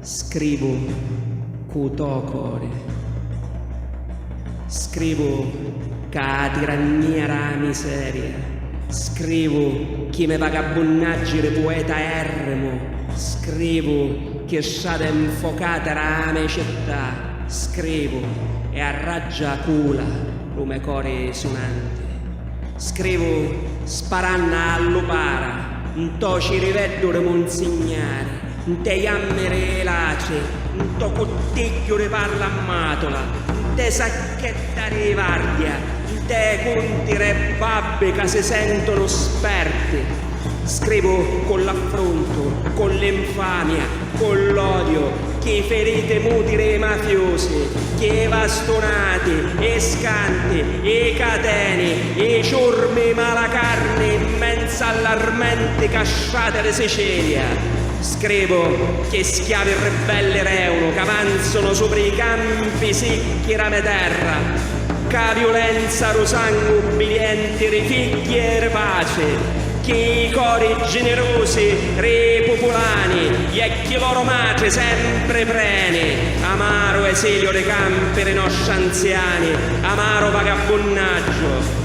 Scrivu cu to cori. Scrivu ca a tirannia ra miseria. Scrivu chi me vagabbunnaggi ri pueta errimu. Scrivu chi strade nfocate ra me città. Scrivu e arraggia a cula ru me cori sunanti. Scrivu sparanna a lupara nto ciriveddu ri munzignari. Ntê jammiri ê latri, ntô cuttigghiu ri parla mmàtula, ntê sacchetta ri vardia, ntê cunti rê babbi ca si sèntunu sperti. Scrivu cu l'affruntu, cu l'infamia, cu l'odiu, chi firiti muti rê mafiusi, chi ê vastunati, ê scanti, ê cateni, ê ciurmi ê malacarni 'n menzu a l'armenti casciati ri Sicilia. Scrivu ch'ê schiavi ribbelli r'Eunu c'avanzunu supri i campi sicchi ra me terra, c'a viulenza ru sangu ubbidienti ri figghi e ri paci, chi i cori ginirusi ri pupulani e chi loro matri sempri preni, amaru esiliu ri campi ri nostri anziani, amaru vagabbunnaggio.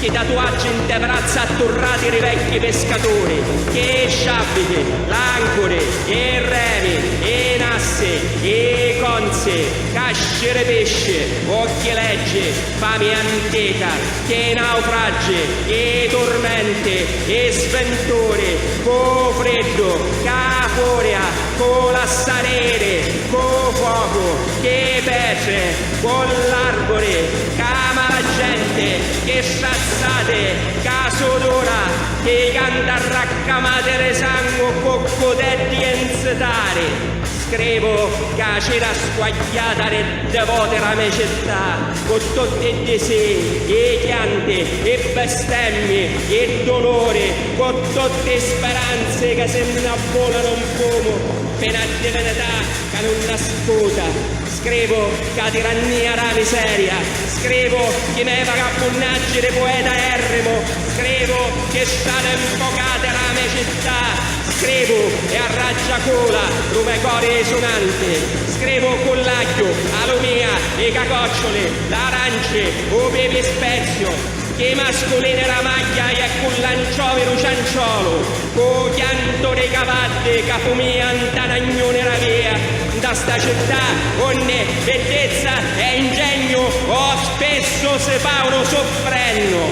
Chi tatuaggi nte vrazza atturrati ri vecchi pescaturi, che e sciabbiti, l'ancuri, e remi, e nassi, e conzi, casci ri pisci, uocchi leggi, fami antica, che naufraggi, e turmenti, e sventuri, cu u friddu, ca a furia, cu lassariri, cu u focu, che petri, Vo' l'arvuri ch'ama la genti Chi strazzati ca sudura Chi canta raccamati Di sangu cu cudetti e nzitari Scrivu ca cira squagghiata Di ddi voti la me città Cu tutti i disii, i chianti, i bestemmi, i duluri Cu tutti i speranzi ca si nna vulanu 'n fumu Pi na divinità ca nun ascuta Scrivu ca di rannìa ra miseria, scrivu chi me vagabbunnaggi di pueta errimu, scrivu chi stane 'nfocate ra me città, scrivu e arraggia cula ru me cori sunanti, scrivu cu l'agghiu, a lumìa, i cacocciuli, l'aranci, u pipi speziu, Che masculene ra magghia e cu l'anciovi ru cianciolu, cu u chiantu dei cavaddi ca fumia nta na gnuni ra via, nta sta città unni biddizza e ingegnu o spissu si faunu suffrennu.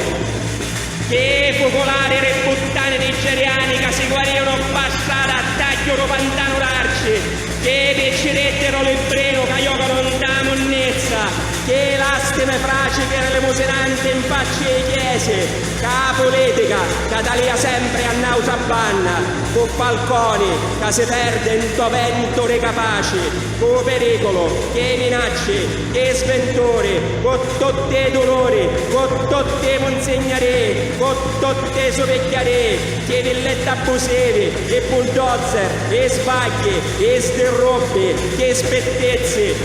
Chi fuculari ri puttani nigeriani ca si guariunu ppa strada a tagghiu ru pantanu d'arci, chi picciriddi ru libbrinu ca iocanu nta munnizza, Che lastime fraci che relemusinanti in facci ei chiesi, ca a pulitica ca talia sempri a nautra banna, cu Falconi ca si perdi nto ventu ri capaci, cu periculu, che minacci, che sventuri, cu tutti e duluri, cu tutti e munzignarii, cu tutti e supicchiarii, chi villetta abbusivi, e bulldozer, e sbagghi, e sdirrubbi, che spittizzi,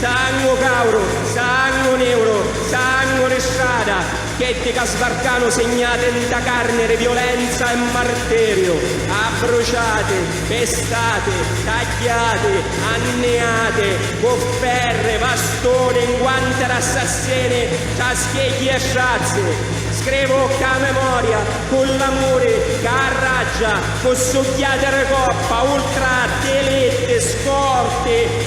Sangu cauru, sangu niuru, sangu di strada, cheddi ca sbarcanu signati nta carni di violenza e martiriu, abbruciati, pestati, tagghiati, anniati, cu ferri, vastuni, nguanti d'assassini, ciaschigghii e strazzi. Scrivu cca 'a memoria, cu l'amuri, ca arraggia, cu sugghiati di coppa, ultra, dilitti, scorti,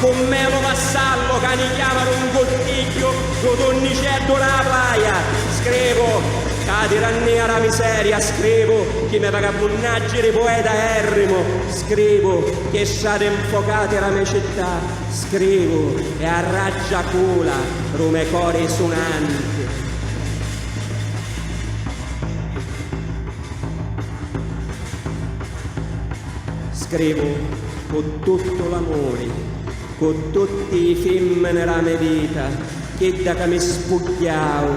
Cu me lu vassallo ca ni chiamanu un cottigghiu lu tunniceddu dâ plaja, scrivu ca tirannìa dâ miseria, scrivu chi me vagabbunnaggi di poeta èrrimu, scrivu ch'è strati nfocati dâ me città, scrivu e a raggia cula dû me cori sunanti. Scrivu. Cu tuttu l'amuri, cu tutti i fimmini ra me vita, chidda ca mi spugghiau,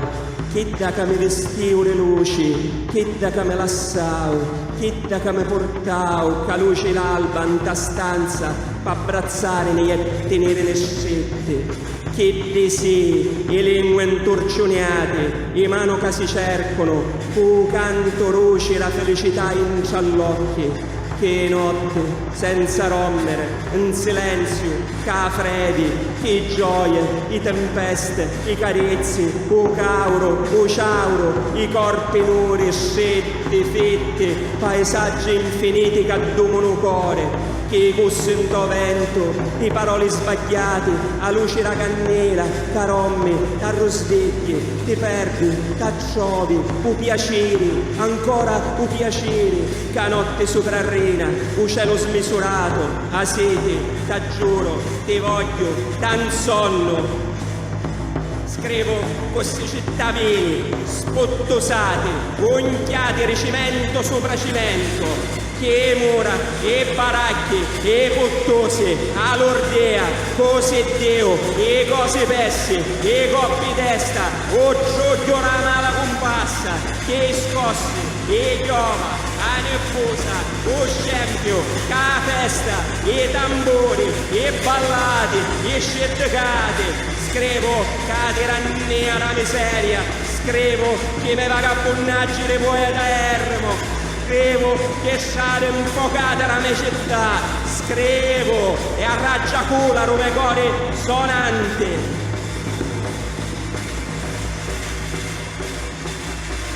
chidda ca mi vistiu di luci, chidda ca mi lassau, chidda ca mi purtau c'a luci l'alba nta stanza p'abbrazzarimi e tinirimi stritti, chiddi sì, i lingui nturciuniati, i manu ca si cercunu, cu u cantu ruci ra filicità intra l'occhi. Ch'ê notti, senza ròmmere, 'n silenziu, c'a fredi, ch'ê gioie, i tempeste, i carizzi, u cauru, u ciauru, i corpi nuri, stritti, fitti, paisaggi nfiniti c'addumunu cori, ch'ê cussi 'nto ventu, i paroli sbagghiati, a luci ra cannila, t'arommi, t'arrusvigghi, ti perdi, t'attrovi, u piaciri, ancora u piaciri, Ca notti suprarrina u celu smisuratu a siti t'aggiuru ti vogghiu da nsonnu scrivu cu ssi cittavini sputtusati unchiati ri cimentu supra cimentu chi i mura i baracchi i puttusi a lurdìa cu siddiu i cosi pessi i coppi testa u giugghiu ra mala cumpassa chi i scossi Li jova, a niffusa, u scempiu, ca a festa, i tamburi, i ballati, i sciddicati, scrivu ca a tirannia da miseria, scrivu chi me vagabbunnaggi di poeta errimu, scrivu chi strati nfocati da me città, scrivu e a raggiacula ru me cori sonanti.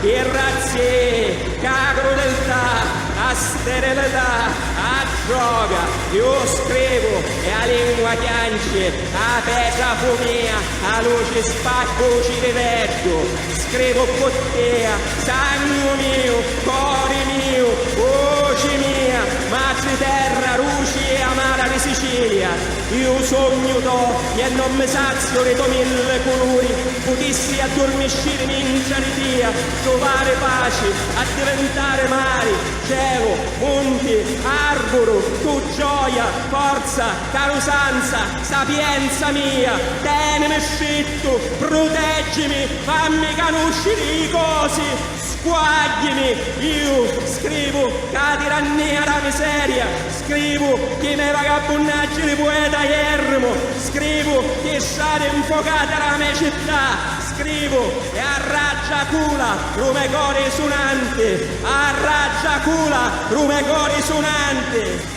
Ti razzi, cagru del ta, a sterilità, a droga, iu scrivu e a lingua chianci, a petra fumìa, a luci spaccu u ciriveddu, scrivu ppu tia, sangu miu, cori miu, vuci mia, matri terra, ruci e amara di Sicilia. Iu sugnu dogghi e non mi saziu di to mille culuri, putissi addurmiscirimi intra di tia, truvari paci, addiventari mari, celu, munti, arburu, tu gioia, forza, carusanza, sapienza mia, tenimi strittu, pruteggimi, fammi canusciri i cosi. Squaggimi! Iu scrivu ca a tirannia dâ miseria, scrivu chi me vagabbunnaggi di pueta ierrimu, scrivu chi stati 'nfocati dâ me città, scrivu e arraggia cula dû me cori sunanti, arraggia cula dû me cori sunanti.